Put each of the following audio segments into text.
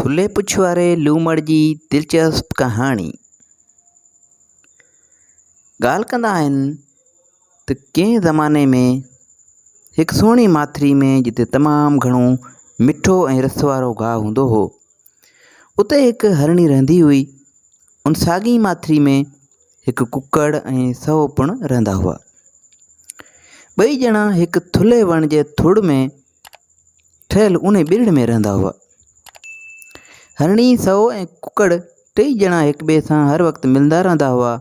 ٿلهي پڇ واري لومڙ جي دلچسپ ڪهاڻي. ڳالهه ڪندا آهن ته ڪنهن زماني ۾ هڪ سهڻي ماٿري ۾ جتي تمام گهڻو مٺو ۽ رس وارو گاهه هوندو هو اتي هڪ هرڻي رهندي هئي. ان ساڳي ئي ماٿري ۾ هڪ ڪڪڙ ۽ سهو پڻ رهندا هئا. ٻئي ڄڻا هڪ ٿلهي وڻ جي ٿڙ ۾ ٺهيل ان ٻرڙ ۾ رهندا هئا. هرڻي، سئو ۽ ڪڪڙ ٽئي ڄڻا هڪ ٻئي سان هر وقت ملندا رهندا هئا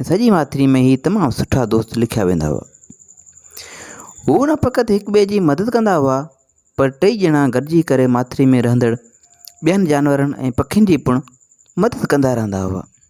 ۽ سڄي ماٿري ۾ هي تمام سٺا دوست لکيا ويندا هئا. هو نه فقط هڪ ٻئي جي مدد ڪندا هئا پر ٽئي ڄڻا گڏجي ڪري ماٿري ۾ رهندڙ ٻين جانورن ۽ پکين جي پڻ مدد ڪندا رهندا هئا.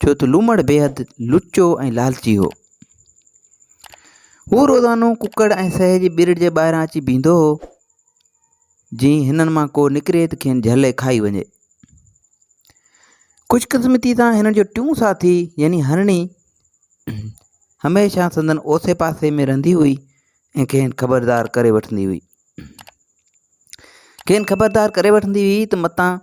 ڇو ته لومڙ بيحد لچو ۽ لالچي هو. هو روزانو ڪڪڙ ۽ سهي جي ٻرڙ جي ٻاهران اچي بيهندو هو. جي هنن مان ڪو نڪري ته کين جهلي کائي وڃي. خوشقسمتي سان هنن جو ٽيون ساٿي يعني هرڻي هميشه سندن اوسي پاسي ۾ رهندي هئي ۽ کين خبردار ڪري وٺندي هئي. کين خبردار ڪري وٺندي هئي ته متان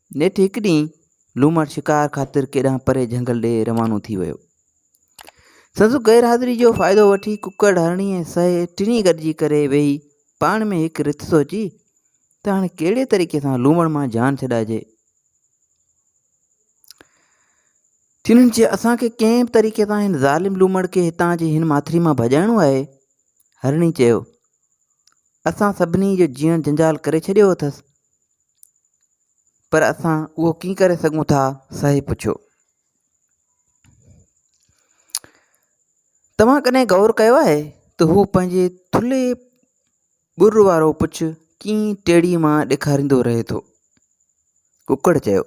نيٺ هڪ ڏينهن لومڙ شڪار خاطر ڪيڏانهن پري جهنگل ڏي روانو ٿي ويو. سندس غير حاضري جو فائدو وٺي ڪڪڙ، هرڻي ۽ سهي ٽنهي گڏجي ڪري ويهي پاڻ ۾ هڪ رٿ سوچي ته هاڻي ڪهڙي طريقي سان لومڙ مان جان ڇڏائجي. تنهن چيو اسان کي ڪنهن به طريقي سان هن ظالم لومڙ کي هتان جي هن ماٿري مان ڀڄائڻو آهي. هرڻي چيو اسان سڀني جو جيئڻ جنجال ڪري ڇڏيو اٿس. پر اسان اهو ڪيئن ڪري سگهون ٿا صاحب پڇيو توهان ڪڏهن غور ڪيو آهي ته هو پنهنجي ٿلهي ٻر وارو پڇ ڪيئن ٽيڙي مان ڏيکاريندو رهي ٿو ڪڪڙ چيو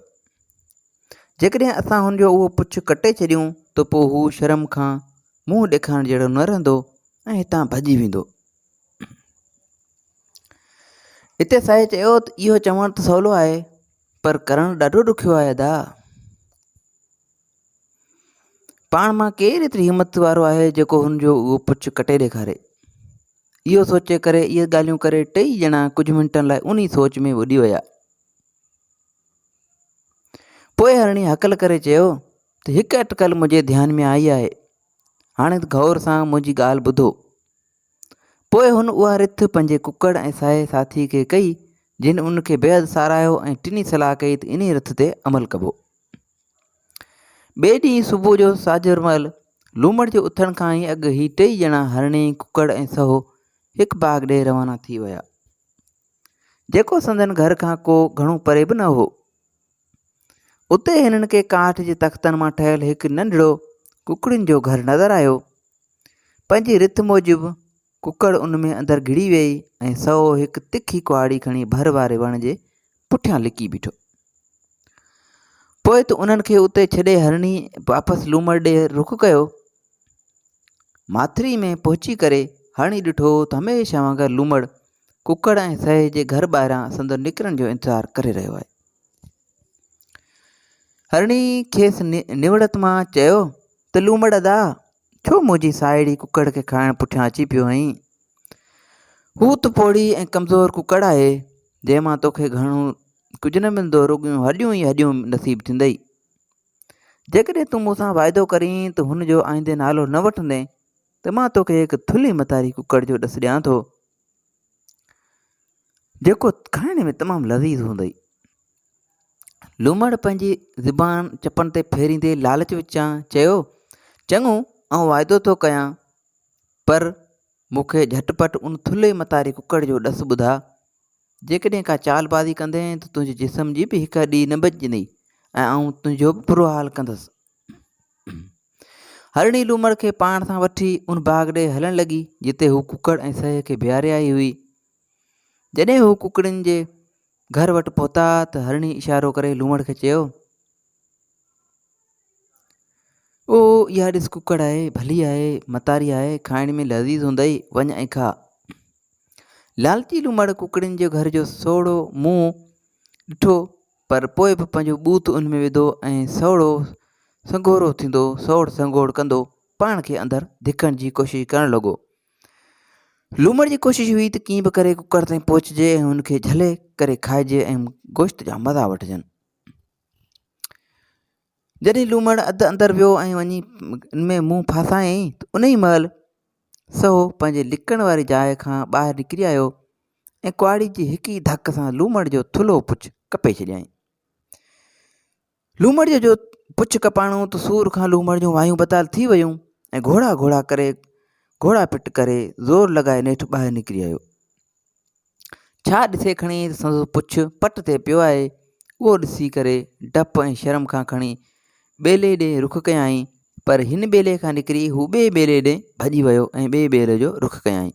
جيڪڏهن اسان هن جو اهو پڇ ڪٽي ڇڏيون ته پوء هو شرم کان منهن ڏيکارڻ جهڙو نه رهندو ۽ هتان ڀڄي ويندو اتي سائينء چيو ته اهو چوڻ ته سولو آهي پر ڪرڻ ڏاڍو ڏکيو آهي ادا پاڻ مان ڪير ايتري همت وارو آهي جيڪو هن جو اهو پڇ ڪٽي ڏيکاري اهو سوچي ڪري اهي ڳالهيون ڪري ٽئي ڄڻا ڪجهه منٽن لاء انهي سوچ ۾ ٻڏي ويا پوء هرڻي هڪل ڪري چيو ته هڪ اٽڪل منهنجي ڌيان ۾ آئي آهي هاڻي غور سان منهنجي ڳالهه ٻڌو پوء هن اها رٿ پنهنجي ڪڪڙ ۽ ساهي ساٿي کي ڪئي، جن ان کي بيحد ساراهيو ۽ ٽنهي صلاح ڪئي ته انهي رٿ تي عمل ڪبو. ٻئي ڏينهن صبح جو ساجهر مهل، لومڙ جي اٿڻ کان ئي اڳ هي ٽئي ڄڻا هرڻي، ڪڪڙ ۽ سهو هڪ باغ ڏي روانا ٿي ويا، جيڪو سندن گهر کان ڪو گهڻو پري به نه هو. اتي هنن کي ڪاٺ جي تختن مان ٺهيل هڪ ننڍڙو ڪڪڙين جو گهر نظر آيو. پنهنجي رٿ موجب ڪڪڙ ان ۾ اندر گهڙي ويئي ۽ سهو هڪ تکي ڪهاڙي کڻي ڀر واري وڻ جي پٺيان لڪي بيٺو. پوء ته انهن کي اتي ڇڏي هرڻي واپس لومڙ ڏي رخ ڪيو. ماٿري ۾ پهچي ڪري هرڻي ڏٺو ته هميشه وانگر لومڙ ڪڪڙ ۽ سهي جي گهر ٻاهران سندن نڪرڻ جو انتظار ڪري رهيو آهي. هرڻي کيس نوڙت مان چيو ته لومڙ ادا ڇو منهنجي ساهيڙي ڪڪڙ کي کائڻ پٺيان اچي پيو آهين هو ته پوڙهي ۽ ڪمزور ڪڪڙ آهي جنهن مان توکي گهڻو ڪجهه نه ملندو رڳيون هڏيون ئي هڏيون نصيب ٿيندئي جيڪڏهن تون مون سان واعدو ڪرين ته هن جو آئندي نالو نه وٺندين ته مان توکي هڪ ٿلهي متاري ڪڪڙ جو ڏس ڏيان ٿو جيڪو کائڻ ۾ تمام لذيذ هوندئي. لومڙ پنهنجي زبان چپن تي ڦيريندي لالچ وچان چيو، چڱو، آئون واعدو ٿو ڪيان، پر مون کي جهٽ پٽ ان ٿلهي متاري ڪڪڙ جو ڏس ٻڌاء. جيڪڏهن ڪا چال بازي ڪندين ته تنهنجي جسم جي به هڪ هڏي نه بچجندي ۽ آئون تنهنجو به برو حال ڪندس. هرڻي لومڙ کي پاڻ سان وٺي ان باغ ڏي هلڻ لڳي جتي هو ڪڪڙ ۽ سهي کي بيهاري آئي هئي جڏهن هو ڪڪڙين جي گهر وٽ پهتا ته هرڻي اشارو ڪري لومڙ کي چيو او اها ڏس ڪڪڙ آهي ڀلي آهي متاري آهي کائڻ ۾ لذيذ هوندئي وڃ ۽ کاء لالچي لومڙ ڪڪڙين جو گهر جو سوڙهو منهن ڏٺو پر پوء به پنهنجو ٻوٿ ان ۾ وڌو ۽ سوڙهو سنگهورو ٿيندو سوڙ سنگهوڙ ڪندو پاڻ کي اندر ڌڪڻ جي ڪوشش ڪرڻ لڳو. لومڙ جي ڪوشش هئي ته ڪيئن به ڪري ڪڪڙ تائين پهچجي ۽ ان کي جهلي ڪري کائجي ۽ گوشت جا مزا وٺجن. جڏهن لومڙ اڌ اندر ويو ۽ وڃي ان ۾ منهن ڦاسايائين ته ان ئي مهل سو پنهنجي لڪڻ واري جاء کان ٻاهر نڪري آيو ۽ ڪهاڙي جي هڪ ئي ڌڪ سان لومڙ جو ٿلهو پڇ ڪپي ڇڏيائين. لومڙ جو پڇ ڪپاڻو ته سور کان لومڙ جون وايون بتال ٿي ويون ۽ گهوڙا گهوڙا ڪري گهوڙا پٽ ڪري زور لڳائي نيٺ ٻاهر نڪري آيو. ڇا ڏسي کڻي سندس پڇ پٽ تي پيو آهي، اهو ڏسي ڪري ڊپ ۽ شرم کان کڻي ٻيلي ڏي رخ ڪيائين، پر هن ٻيلي کان نڪري هو ٻئي ٻيلي ڏي ڀڄي ويو ۽ ٻئي ٻيلي جو رخ ڪيائين.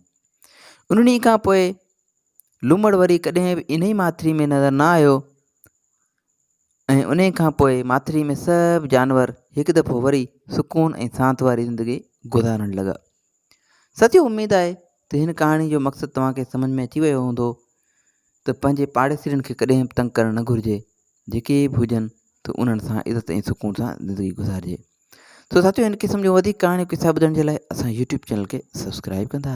ان ڏينهن کان پوء لومڙ وري ڪڏهن به انهي ماٿري ۾ نظر نه آيو ۽ انهي کان پوء ماٿري ۾ سڀ جانور هڪ دفعو وري سڪون ۽ سانت واري زندگي گذارڻ لڳا. سچي اميد آهي ته هن ڪهاڻي جو مقصد توهان کي سمجهه ۾ اچي ويو هوندو ته پنهنجي پاڙيسرين کي ڪڏهن به تنگ ڪرڻ نه گهرجي، جيڪي به هجن ته انهن سان عزت ۽ سڪون سان زندگي گذارجي. سو ساٿيو هن قسم جون وڌيڪ ڪهاڻيون قصا ٻڌڻ جي لاء اسان يوٽيوب چينل کي سبسڪرائيب ڪندا.